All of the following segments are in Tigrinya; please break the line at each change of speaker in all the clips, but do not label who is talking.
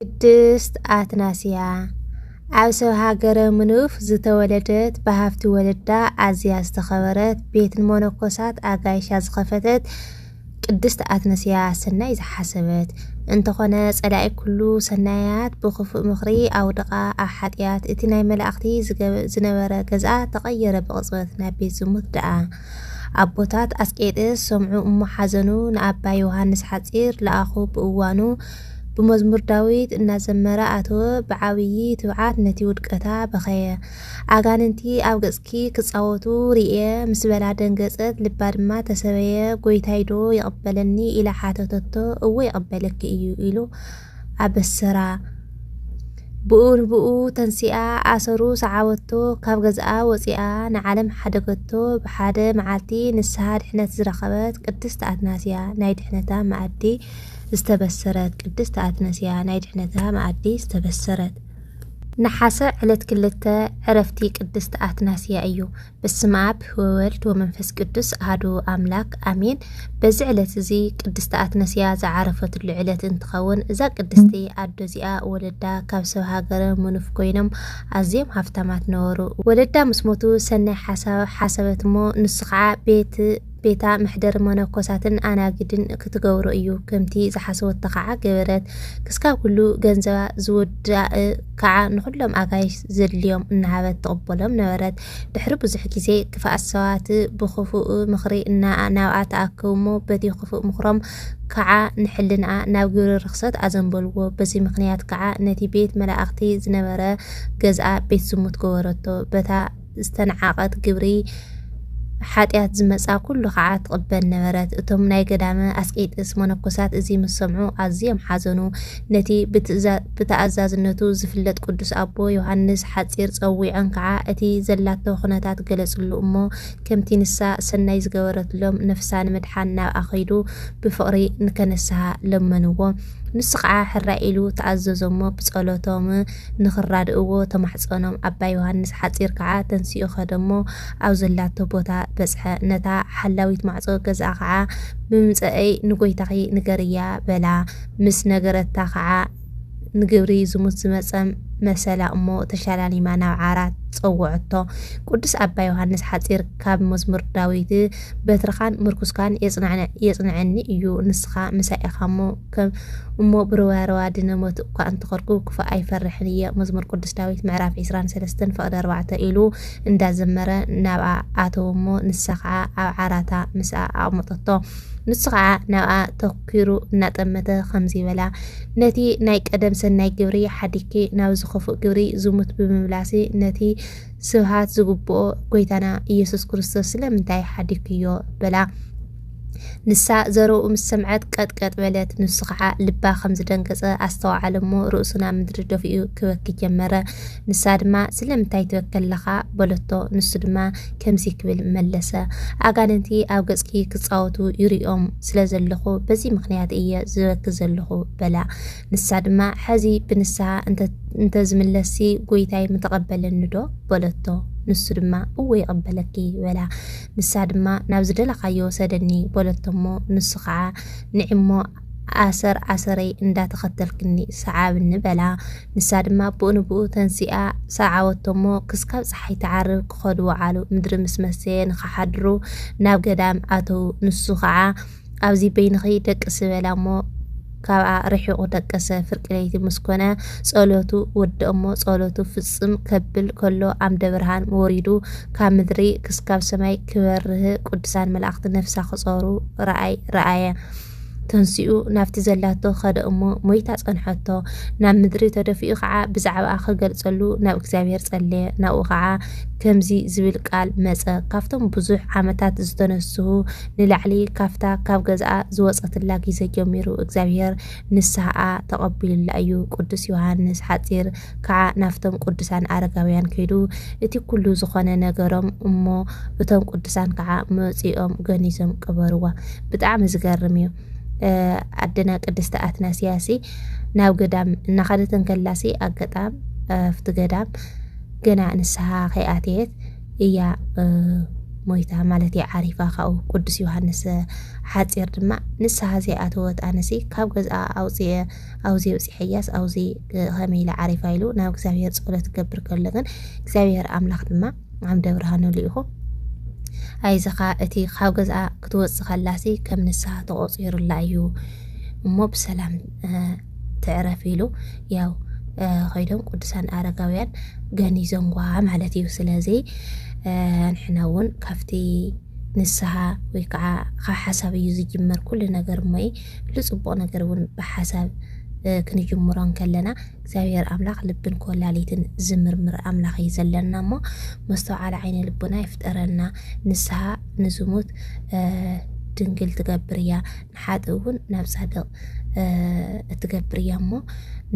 ቅድስት ኣትናስያ ኣብ ሰብ ሃገረ ምኑፍ ዝተወለደት ብሃፍቲ ወለዳ ኣዝያ ዝተኸበረት ቤትን ሞኖኮሳት ኣጋይሻ ዝኸፈተት ቅድስት ኣትነስያ ሰናይ ዝሓሰበት እንተኾነ ጸላኢ ኩሉ ሰናያት ብክፉእ ምኽሪ ኣውድቓ ኣብ ሓጢኣት እቲ ናይ መላእኽቲ ዝነበረ ገዝኣ ተቐየረ ብቕጽበት ናብ ቤት ዝሙት ደኣ ኣቦታት ኣስቄጥስ ሰምዑ እሞ ሓዘኑ ንኣባ ዮሃንስ ሓጺር ለኣኹ ብእዋኑ ብመዝሙር ዳዊት እናዘመረ ኣተወ ብዓብዪ ትብዓት ነቲ ውድቀታ በኸየ። ኣጋንንቲ ኣብ ገጽኪ ክጻወቱ ርእየ ምስ በላ ደንገጸት ልባ ድማ ተሰበየ ጐይታይዶ ይቕበለኒ ኢላ ሓተተቶ እወ ይቕበለኪ እዩ ኢሉ ኣበሰራ። ብኡ ንብኡ ተንሲኣ ኣሰሩ ሰዓበቶ ካብ ገዝኣ ወጺኣ ንዓለም ሓደገቶ ብሓደ መዓልቲ ንስሃ ድሕነት ዝረኸበት ቅድስት ኣትናስያ ናይ ድሕነታ መኣዲ ዝተበሰረት ቅድስት ኣትነስያ ናይ ድሕነታ መኣዲ ዝተበሰረት ነሓሰ ዕለት ክልተ ዕረፍቲ ቅድስት ኣትናስያ እዩ። ብስመ ኣብ ወወልድ ወመንፈስ ቅዱስ ኣህዱ ኣምላክ ኣሜን። በዚ ዕለት እዚ ቅድስት ኣትነስያ ዝዓረፈትሉ ዕለት እንትኸውን እዛ ቅድስቲ ኣዶ እዚኣ ወለዳ ካብ ሰብ ሃገረ ምኑፍ ኮይኖም ኣዝዮም ሃፍታማት ነበሩ። ወለዳ ምስ ሞቱ ሰናይ ሓሳብ ሓሰበት እሞ ንሱ ከዓ ቤት ቤታ መሕደሪ መነኮሳትን ኣናግድን ክትገብሮ እዩ ከምቲ ዝሓሰወቶ ከዓ ገበረት ክስካብ ኩሉ ገንዘባ ዝውዳእ ከዓ ንኩሎም ኣጋይሽ ዘድልዮም እናሃበት ትቕበሎም ነበረት ድሕሪ ብዙሕ ግዜ ክፍኣት ሰባት ብክፉእ ምኽሪ እና ናብኣ ተኣከቡ እሞ በቲ ክፉእ ምኽሮም ከዓ ንሕልንኣ ናብ ግብሪ ርኽሰት ኣዘንበልዎ በዚ ምኽንያት ከዓ ነቲ ቤት መላእኽቲ ዝነበረ ገዝኣ ቤት ዝሙት ገበረቶ በታ ዝተንዓቐት ግብሪ ሓጢኣት ዝመጻ ኩሉ ከኣ ትቕበል ነበረት። እቶም ናይ ገዳመ ኣስቄጥስ መነኮሳት እዚ ምስ ሰምዑ ኣዝዮም ሓዘኑ። ነቲ ብተኣዛዝነቱ ዝፍለጥ ቅዱስ ኣቦ ዮሃንስ ሓጺር ጸዊዖም ከኣ እቲ ዘላቶ ኩነታት ገለጽሉ እሞ ከምቲ ንሳ ሰናይ ዝገበረትሎም ነፍሳ ንምድሓን ናብኣ ከይዱ ብፍቕሪ ንከነስሃ ለመንዎ። ንሱ ከኣ ሕራይ ኢሉ ተኣዘዞሞ ብጸሎቶም ንኽራድእዎ ተማሕጸኖም። ኣባ ዮሃንስ ሓጺር ከኣ ተንሲኡ ከደ'ሞ ኣብ ዘላቶ ቦታ በጽሐ። ነታ ሓላዊት ማዕጾ ገዝኣ ከኣ ብምምጸእይ ንጐይታኺ ንገርያ በላ። ምስ ነገረታ ከኣ ንግብሪ ዝሙት ዝመጸ መሰላ እሞ ተሸላሊማ ናብ ዓራት ጸውዐቶ። ቅዱስ ኣባ ዮሃንስ ሓጺር ካብ መዝሙር ዳዊት በትርኻን ምርኩስካን የጽንዐኒ እዩ ንስኻ ምሳይ ኢኻ'ሞ ከም እሞ ብርዋርዋ ድነ ሞት እኳ እንተኾርኩ ክፉእ ኣይፈርሕን እየ መዝሙር ቅዱስ ዳዊት ምዕራፍ ዕስራን ሰለስተን ፈቕዲ ኣርባዕተ ኢሉ እንዳዘመረ ናብኣ ኣተወ እሞ ንሳ ከዓ ኣብ ዓራታ ምስኣ ኣቕመጠቶ ንሱ ከዓ ናብኣ ተኲሩ እናጠመተ ከምዚ በላ ነቲ ናይ ቀደም ሰናይ ግብሪ ሓዲኪ ናብ ዝኸፉእ ግብሪ ዝሙት ብምምላሲ ነቲ ስብሃት ዝግብኦ ጎይታና ኢየሱስ ክርስቶስ ስለምንታይ ሓዲክዮ በላ ንሳ ዘረኡ ምስ ሰምዐት ቀጥቀጥ በለት። ንሱ ከዓ ልባ ከም ዝደንገጸ ኣስተውዓለ እሞ ርእሱ ናብ ምድሪ ደፊኡ ክበኪ ጀመረ። ንሳ ድማ ስለምንታይ ትበኪ ኣለኻ? በለቶ። ንሱ ድማ ከምዚ ክብል መለሰ፣ ኣጋንንቲ ኣብ ገጽኪ ክጻወቱ ይርእዮም ስለ ዘለኹ በዚ ምኽንያት እየ ዝበኪ ዘለኹ በላ። ንሳ ድማ ሕዚ ብንስሓ እንተዝምለስሲ ጐይታይ ምተቐበለኒ ዶ? በለቶ። ንሱ ድማ እወ ይቕበለኪ በላ። ንሳ ድማ ናብ ዝደለኻዮ ወሰደኒ በለቶ'ሞ ንሱ ኸኣ ንዒ'ሞ ኣሰር ኣሰረይ እንዳተኸተልክኒ ሰዓብኒ በላ። ንሳ ድማ ብኡ ንብኡ ተንሲኣ ሰዓበቶ'ሞ ክስካብ ጸሓይ ትዓርብ ክኸዱ ወዓሉ። ምድሪ ምስ መሰየ ንኽሓድሩ ናብ ገዳም ኣተዉ። ንሱ ኸኣ ኣብዚ በይንኺ ደቅሲ በላ እሞ ካብኣ ርሒቑ ደቀሰ። ፍርቂ ለይቲ ምስ ኮነ ጸሎቱ ወድእ እሞ ጸሎቱ ፍጽም ከብል ከሎ ኣምደ ብርሃን ወሪዱ ካብ ምድሪ ክስካብ ሰማይ ክበርህ ቅዱሳን መላእኽቲ ነፍሳ ክጾሩ ረኣይ ረኣየ። ተንሲኡ ናብቲ ዘላቶ ኸደ እሞ ሞይታ ጸንሐቶ ናብ ምድሪ ተደፊኡ ከዓ ብዛዕባኣ ክገልጸሉ ናብ እግዚኣብሔር ጸለየ ናብኡ ከዓ ከምዚ ዝብል ቃል መጸ ካብቶም ብዙሕ ዓመታት ዝተነስሁ ንላዕሊ ካብታ ካብ ገዝኣ ዝወጸትላ ጊዘ ጀሚሩ እግዚኣብሔር ንስሃኣ ተቀቢሉላ እዩ ቅዱስ ዮሃንስ ሓጺር ካዓ ናፍቶም ቅዱሳን ኣረጋውያን ከይዱ እቲ ኩሉ ዝኮነ ነገሮም እሞ እቶም ቅዱሳን ካዓ መጺኦም ገኒዞም ቀበርዋ ብጣዕሚ ዝገርም እዩ ኣደና ቅድስቲ ኣትናስያሲ ናብ ገዳም እናኸደት እንከላሲ ኣጋጣም ኣብቲ ገዳም ገና ንስሃ ከይኣተየት እያ ሞይታ ማለት እያ ዓሪፋ ካብኡ ቅዱስ ዮሃንስ ሓፂር ድማ ንስሓ ዘይኣተወት ኣነሲ ካብ ገዝኣ ኣውፅኤ ኣውዚ ውፅሐያስ ኣውዚ ከመይ ኢለ ዓሪፋ ኢሉ ናብ እግዚኣብሔር ፀሎት ገብር ከሎ ግን እግዚኣብሔር ኣምላኽ ድማ ዓምደ ብርሃኑ ልኢኹ ኣይዘኻ እቲ ካብ ገዝኣ ክትወፅእ ከላሲ ከም ንስሓ ተቆፂሩላ እዩ እሞ ብሰላም ትዕረፍ ኢሉ ያው ኮይዶም ቅዱሳን ኣረጋውያን ገኒዞምዋ ማለት እዩ ስለዚ ንሕና እውን ካብቲ ንስሓ ወይ ከዓ ካብ ሓሳብ እዩ ዝጅመር ኩሉ ነገር እሞ ልፅቡቕ ነገር እውን ብሓሳብ ክንጅምሮ እንከለና እግዚኣብሔር ኣምላኽ ልብን ኮላሊትን ዝምርምር ኣምላኽ እዩ ዘለና እሞ መስተውዓል ዓይነ ልቡና ይፍጠረና ንስሓ ንዝሙት ድንግል ትገብር እያ ንሓጥእ እውን ናብ ጻድቕ እትገብር እያ እሞ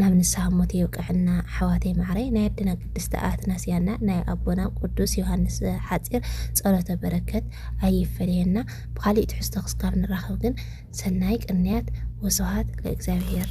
ናብ ንስሓ ሞት የብቅዐና ኣሕዋተይ ማዕረይ ናይ ኣደና ቅድስቲ ኣትናስያና ናይ ኣቦና ቅዱስ ዮሃንስ ሓፂር ጸሎተ በረከት ኣይፈለየና ብካሊእ ትሕዝቶ ክስካብ ንራኸብ ግን ሰናይ ቅንያት ወስብሃት ለእግዚኣብሔር